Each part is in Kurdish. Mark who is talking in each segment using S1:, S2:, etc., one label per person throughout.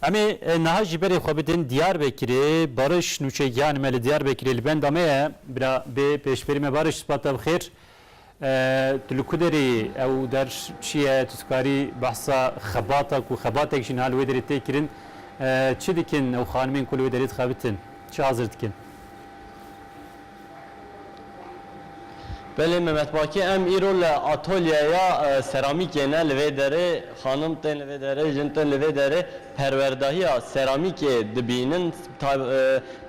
S1: Em ê niha jî berê xwe bidin Diyarbekirê. Bariş nûçegiyan me li Diyarbekirê li benda me ye. Bira bê pêşberî me Bariş spa te bi xêr. Tu li ku derê yî? Ew der çi ye? Tu dikarî behsa xebata ku xebatek jî niha li wê derê tê kirin çi dikin ew xanimên ku li wê derê dixebitin? Çi hazir dikin? Belê Memet Baki em îro li atolyeya seramîkê ne li vê derê xanim tên li vê derê jin tên li vê derê perwerdahiya seramîkê dibînin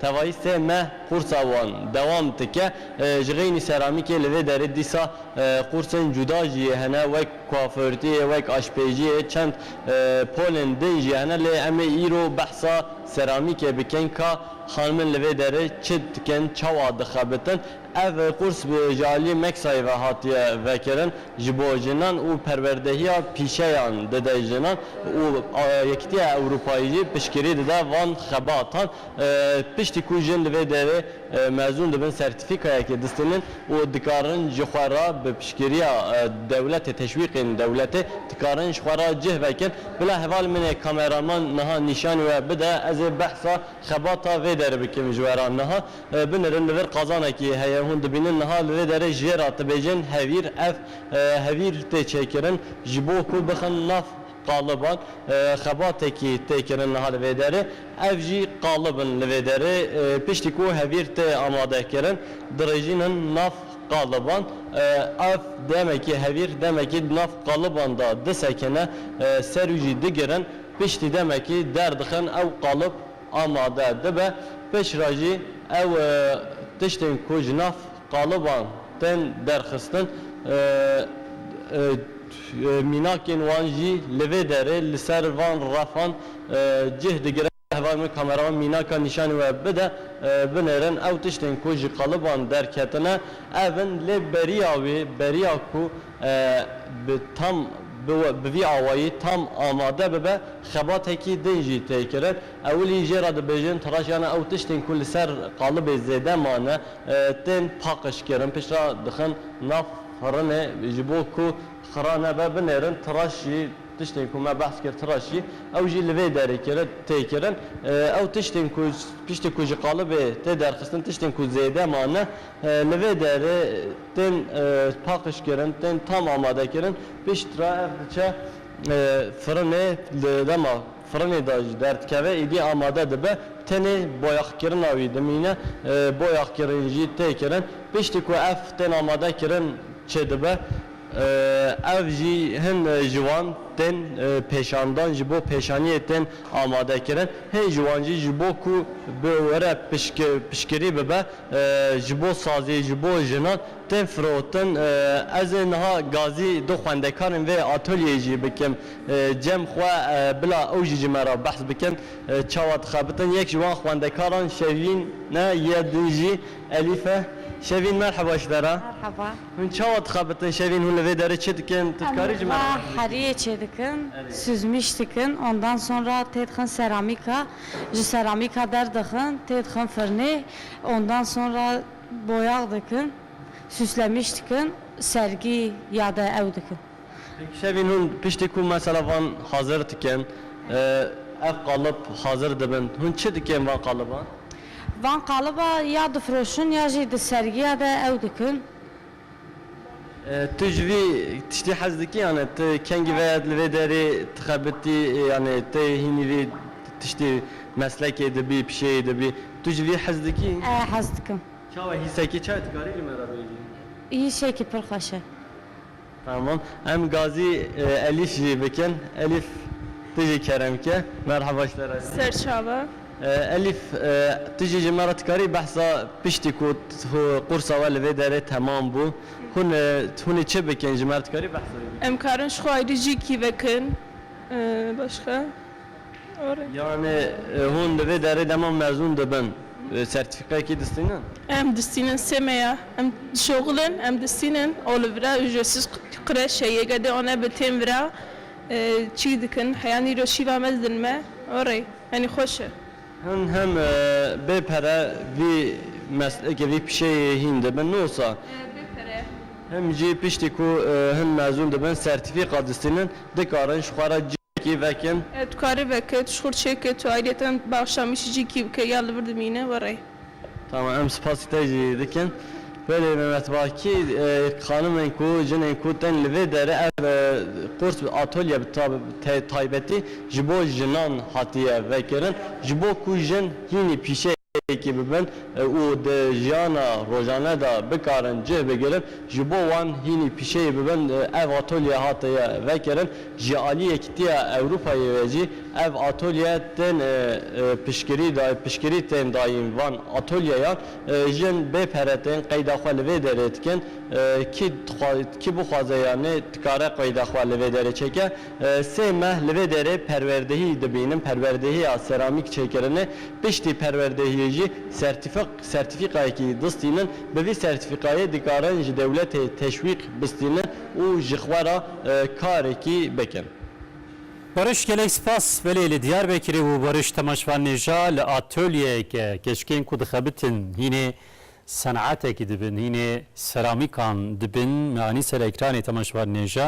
S1: tevayî sê meh qûrsa wan dewam dike ji xeynî seramîkê li vê derê dîsa qûrsên cuda jî hene wek kuafurtiyê wek aşpêjiyê çend polên din jî hene lê em ê îro behsa seramîkê bikin ka Xanimên li vê derê çi dikin, çawa dixebitin? Ev qurs bi jialiyê Meksayê ve hatiye vekirin. Ji bo jinan û perwerdehiya pîşeyan dide jinan û Yekîtiya Ewropayê jî piştgirî dide van xebatan. Piştî ku jin li vê derê mezûn dibin sertîfîkayekê distînin. û dikarin ji xwe re bi piştgiriya dewletê teşwîqên dewletê dikarin ji xwe re cih vekin. Bila heval min ê kameraman niha nîşanî we bide ez ê behsa xebata vê derê bikim ji we re. Niha binirin li vir qazanekî heye hûn dibînin niha li vê derê jê re dibêjin hevîr ev hevîr tê çêkirin ji bo ku bixin nav Taliban xebatekî tê kirin niha li vê derê. Ev jî qalib in li vê derê piştî ku hevîr tê amadekirin dirêjîn in nav qaliban. Ev demekî hevîr demekî di nav qaliban de disekine ser û jî digirin piştî demekî derdixin ew qalib amade dibe. Piştre jî ew tiştên ku ji nav qaliban tên derxistin û mînakên wan jî li vê derê li ser van refan cih digire. Hevalên min kameraman mînaka nîşanî we bide binêrin. Ew tiştên ku ji qaliban derketine ev in lê beriya wî beriya ku bi tam bi vî awayî tam amade bibe xebatekî din jî tê kirin. Ewilî jê re dibêjin tiraşiyana ew tiştên ku li ser qalibê zêde mane tên paqijkirin piştre dixin nav firinê ji bo ku xira nebe binêrin tiraş jî tiştên ku me behs kir tiraş jî ew jî li vê derê kirin tê kirin ew tiştên ku piştî ku ji qalibê tê derxistin tiştên ku zêde mane li vê derê tên paqijkirin tên tam amadekirin piştre ev diçe firinê di dema Firinê de jî derdikeve, êdî amade dibe, tenê boyaxkirina wî dimîne, boyaxkirîn jî tê kirin. Piştî ku ev tên amade kirin çêdibe, ev jî hin ji wan tên pêşandan, ji bo pêşaniyê tên amade kirin. Hin ji wan jî ji bo ku bi were pişkirî bibe, ji bo sazî, ji bo jinan, Tê firotin. Ez ê niha gazî du xwendekarên vê atolyeyê jî bikim cem xwe bila ew jî ji me re behs bikin çawa dixebitin. Yek ji wan xwendekaran Şevîn e yê din jî Elîf e. Şevîn merheba ji te re. Merheba. Hûn çawa dixebitin Şevîn hûn li vê derê çi dikin? Tu dikarî ji me re behs bikî? Em li we heriyê çêdikin, suzmîş dikin ondan sonra tê dixin seramîka, ji seramîka derdixin tê dixin firnê ondan sonra Boyax dikin, süslemiş dikin, sergî ya de ew dikin. Pêk şevîn hûn piştî ku mesela van hazir dikin, ev qalib hazir dibin, hûn çi dikin van qaliban? Van qaliba ya difiroşin ya jî di sergiya de ew dikin. Tu ji vî tiştî hez dikî yanî tu kengî veya li vê derê dixebitî yanî tu hînî vî tiştî meslekê de bî pişeyê de bî tu ji vî hez dikî? Ee hez dikim. Çawa hîsekî çawa dikarî li me re bêjî? Hîsekî pir xweş e. Tamam em gazî Elîf jî bikin. Elîf tu jî kerem ke. Merhaba ji te re jî. Serçava. Elîf, tu jî ji me re dikarî behsa piştî ku qursa we li vê derê temam bû, hûn hûn ê çi bikin ji me re dikarî behsa wê bikî? Em karin ji xwe ayrî jî kî vekin başka are. Yanê hûn li vê derê dema mezûn dibin sertîfîkayekî distînin? Em distînin sê me ya. Em dişoxilin, em distînin û li vira ujresiz qreşe yê gedê û nebe tên vira çî dikin. Heya nîro şîva me didin me are. Yanî xweş e. Hûn hem bê pere vî meslekê, vî pişeyê hîn dibin. Nosa. Bê pere. Hem jî piştî ku hûn mezûn dibin, sertîfîka distînin, dikarin ji xwe re cihekî vekin. Dikarî veke, tu ji xwe re çêke, tu aîdîyeta me bi axşamîşî cî kî bike ya li vir dimîne, were. Tamam em spasî te jî dikin. Belê Mehmet Bakî xanimên ku jinên ku tên li vê derê ev qurs atolye bi taybetî ji bo jinan hatiye vekirin ji bo ku jin hînî pîşeyekî bibin û di jiyana rojane de bikarin cih bigirin ji bo wan hînî pîşeyî bibin ev atolye hatiye vekirin. Ji alî Yekîtiya Ewropayê ve jî ev atolye tên piştgirî piştgirî tên dayîn. Van atolyeyan jin bê pere tên qeyda xwe li vê derê dikin. Kî kî bixwaze yanî dikare qeyda xwe li vê derê çêke. Sê meh li vê derê perwerdehî dibînin, perwerdehiya seramîk çêkirine. Piştî perwerdehiyê jî sertîfik sertîfîkayekî distînin. Bi vî sertîfîkayê dikarin ji dewletê teşwîq bistînin. û ji xwe re karekî bikin. Barış gelek spas belê li Diyarbekirê û Barış Temaşvan Nêja li atolyeyeke keçikên ku dixebitin hînê senatekî dibin hînê seramîkan dibin me anî ser ekranê Temaşvan Nêja.